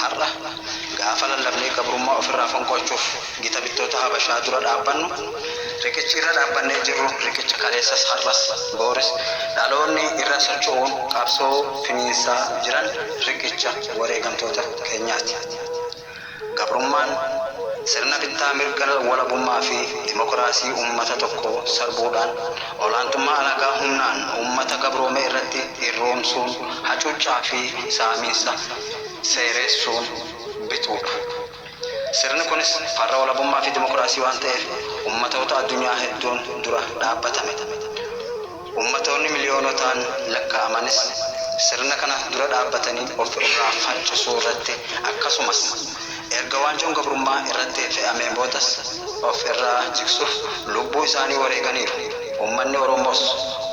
Har'a gaafa lallabnee gabrummaa ofirraa fonqolchuuf gita bittoota Habashaa dura dhaabbannu, riqichi irra dhaabbannee jirru riqicha kaleessas har'as booris dhaloonni irra socho'uun qabsoo finiinsaa jiran riqicha wareegamtoota keenyaati. Gabrummaan sirna bittaa mirga walabummaa fi dimokiraasii uummata tokkoo sarbuudhaan olaantummaa alagaa humnaan uummata gabroome irratti irroomsuun hacuuccaa fi saamiinsa seereessuun bituudha. Sirni kunis farra walabummaa fi dimokiraasii waan ta'eef ummatoota addunyaa hedduun dura dhaabbatame. Ummatoonni miliyoonotaan lakkaa'amanis sirna kana dura dhaabbatanii of irraa faccisuu irratti akkasumas Erga waanjoon gabrummaa irratti fe'ameen boodas of irraa jigsuuf lubbuu isaanii wareeganiiru. Ummanni Oromoos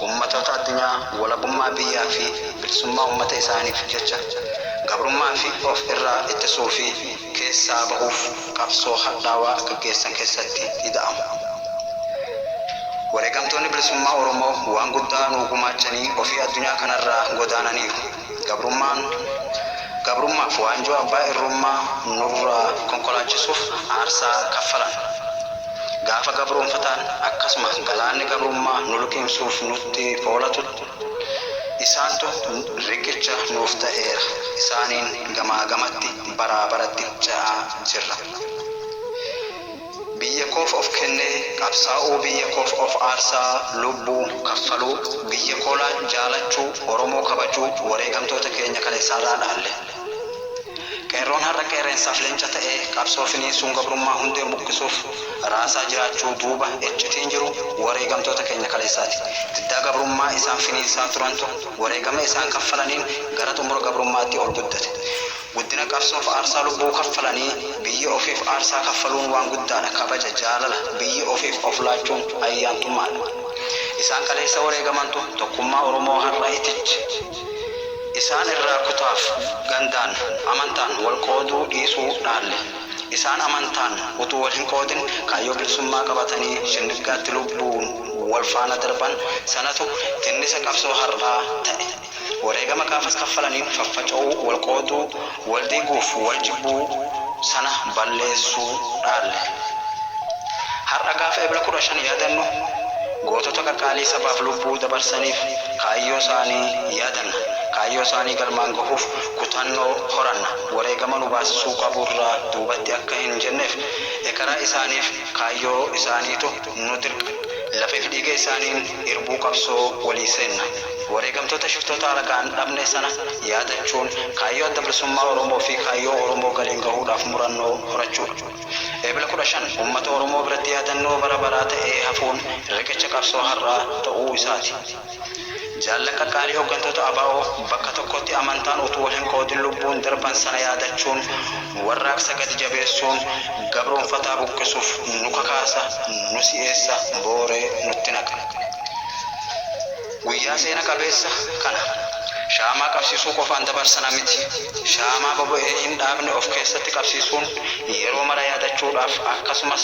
ummatoota addunyaa walabummaa biyyaa fi bilisummaa ummata isaaniif jecha gabrummaa fi of irraa ittisuu fi keessaa bahuuf qabsoo hadhaawaa gaggeessan keessatti ida'amu. Wareegamtoonni bilisummaa Oromoo waan guddaa nuu gumaachanii ofii addunyaa kanarraa godaananiiru. Gabrummaan gabrummaaf waanjoo abbaa irrummaa nurraa konkolaachisuuf aarsaa kaffalan. Gaafa gabroomfataan akkasuma galaanni gabrummaa nu liqimsuuf nutti foolatutti isaantu riqicha nuuf ta'eera. Isaaniin gamaa gamatti baraa baratti ce'aa jirra. Biyya koof of kennee qabsaa'uu Biyya koof of aarsaa lubbuu kaffaluu Biyya koolaan jaalachuu Oromoo kabajuu Wareegamtoota keenya kaleessaarraa dhaalle Qeerroon har'a qeerrensaaf leenca ta'ee qabsoo finiinsuun gabrummaa hundeen buqqisuuf raasaa jiraachuu duuba iccitiin jiru wareegamtoota keenya kaleessaati Diddaa gabrummaa isaan finiinsaa turantu wareegama isaan kaffalaniin gara xumura gabrummaatti ol guddate Guddina qabsoof aarsaa lubbuu kaffalanii biyya ofiif aarsaa kaffaluun waan guddaadha, kabaja, jaalala, biyya ofiif of laachuun ayyaantummaadha. Isaan kaleessa wareegamantu tokkummaa Oromoo har'a itiche. Isaan irraa kutaaf, gandaan, amantaan wal qooduu dhiisuu dhaalle. Isaan amantaan utuu wal hin qoodin kaayyoo bilisummaa qabatanii shinniggaatti lubbuun wal faana darban sanatu tinnisa qabsoo har'aa ta'e. Wareegama gaafas kaffalaniin faffaca'uu, wal qooduu, wal diiguuf wal jibbuu sana balleessuu dhaalle. Har'a gaafa Ebla 15 yaadannu gootota qaqqaalii sabaaf lubbuu dabarsaniif kaayyoo isaanii yaadanna, kaayyoo isaanii galmaan gahuuf kutannoo horanna, wareegama nu baasisuu qabu irraa duubatti akka hin jenneef ekeraa isaaniif kaayyoo isaaniitu Humnooti hirqan. Lafee fi dhiiga isaaniin irbuu qabsoo walii seenna. Wareegamtoota shiftoota alagaan dhabne sana yaadachuun kaayyoo Adda Bilisummaa Oromoo fi kaayyoo Oromoo galiin gahuudhaaf murannoo horachuudha. Ebla 15 ummata Oromoo biratti yaadannoo bara baraa ta'ee hafuun riqicha qabsoo har'aa ta'uu isaati. Jaallan qaqqaalii hoggantoota abo bakka tokkotti amantaan utuu wal hin qoodin lubbuun darban sana yaadachuun warraaqsa gadi jabeessuun gabroomfataa buqqisuuf nu kakaasa, nu si'eessa, booree nutti naqa. Guyyaa seena qabeessa kana shaamaa qabsiisuu qofaan dabarsana miti. Shaamaa boba'ee hin dhaabne of keessatti qabsiisuun yeroo mara yaadachuudhaaf akkasumas,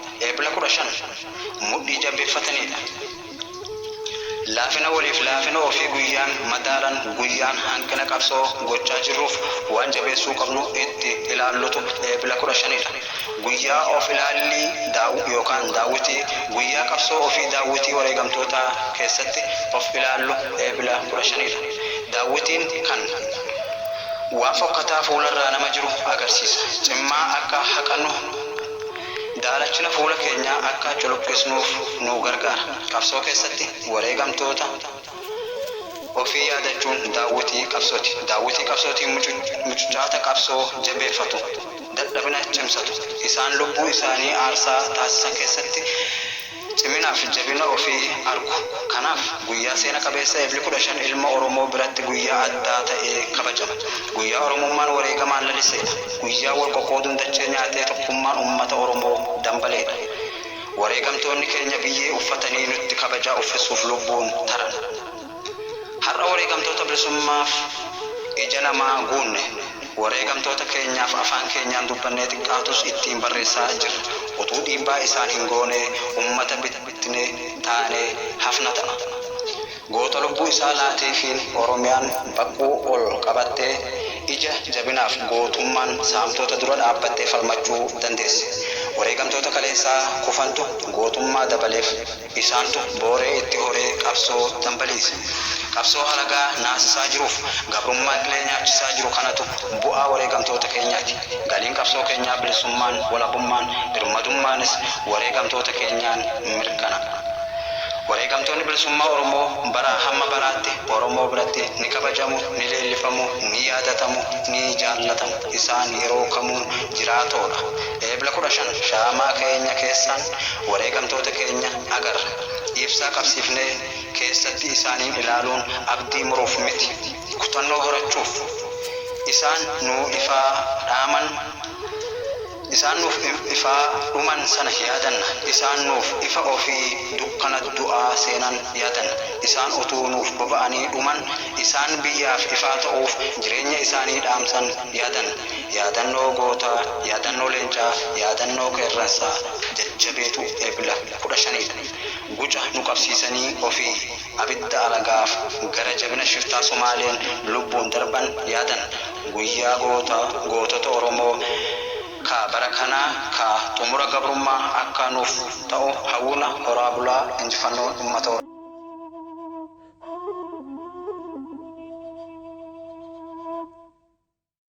Eebla 15 mudhii jabeeffataniidha. Laafina waliif laafina ofii guyyaan madaalan guyyaan hanqina qabsoo gochaa jirruuf waan jabeessuu qabnu itti ilaallutu Eebla 15dha. Guyyaa of ilaallii daaw yookaan daawwitii guyyaa qabsoo ofii daawwitii wareegamtootaa keessatti of ilaallu Eebla 15dha. Daawwitiin kan waan fokkataa fuularraa nama jiru agarsiisa. Cimmaa akka haqannu. Daalachina fuula keenyaa akka culuqqisnuuf nu gargaara. Qabsoo keessatti wareegamtoota ofii yaadachuun daawwitii qabsooti. Daawwitii qabsootiin mucucaata qabsoo jabeeffatu, dadhabina cimsatu. Isaan lubbuu isaanii aarsaa taasisan keessatti Ciminaa fi jabina ofii argu. Kanaaf, guyyaa seena qabeessa Ebli 15 ilma Oromoo biratti guyyaa addaa ta'ee kabajama. Guyyaa Oromummaan wareegamaan laliseedha. Guyyaa wal qoqqooduun dachee nyaatee tokkummaan ummata Oromoo dambaleedha. Wareegamtoonni keenya biyyee uffatanii nutti kabajaa uffisuuf lubbuun taran. Har'a wareegamtoota bilisummaaf ija lamaa guunne. Wareegamtoota keenyaaf afaan keenyaan dubbannee xiqqaatus ittiin barreessaa jirra. Utuu dhiibbaa isaan hin goonee ummata bittinee taanee hafna ta'a. Goota lubbuu isaa laateefiin Oromiyaan baquu ol qabattee ija jabinaaf gootummaan saamtoota dura dhaabbattee falmachuu dandeessi. Wareegamtoota kaleessaa kufantu gootummaa dabaleef. Isaantu booree itti horee qabsoo dambaliise. Qabsoo halagaa naasisaa jiruuf gabrummaan qilee nyaachisaa jiru kanatu bu'aa wareegamtoota keenyaati. Galiin qabsoo keenyaa bilisummaan, walabummaan, birmadummaanis wareegamtoota keenyaan mirkana. Wareegamtoonni bilisummaa Oromoo baraa hamma baraatti Oromoo biratti ni kabajamu, ni leellifamu, ni yaadatamu, ni jaallatamu. Isaan yeroo kamuu jiraatoodha. Eebla 15 shaamaa keenya keessaan wareegamtoota keenya agarra. Ibsaa qabsiifnee keessatti isaaniin ilaaluun abdii muruuf miti, kutannoo horachuuf. Isaan nuu ifaa dhaaman, isaan nuuf ifaa dhuman sana yaadanna. Isaan nuuf ifa ofii dukkana du'aa seenan yaadanna. Isaan utuu nuuf boba'anii dhuman, isaan biyyaaf ifaa ta'uuf jireenya isaanii dhaamsan yaadanna. Yaadannoo Gootaa, Yaadannoo Leencaa, Yaadannoo Qeerransaa, Jajjabeetu Ebla 15 dha. Guca nu qabsiisanii ofii abidda alagaaf gara jabina shiftaa Somaaleen lubbuun darban yaadan. Guyyaa Gootaa, Gootota Oromoo ka bara kanaa ka xumura gabrummaa akka nuuf ta'u hawwina. Horaa bulaa! Injifannoon Ummata Oromoo!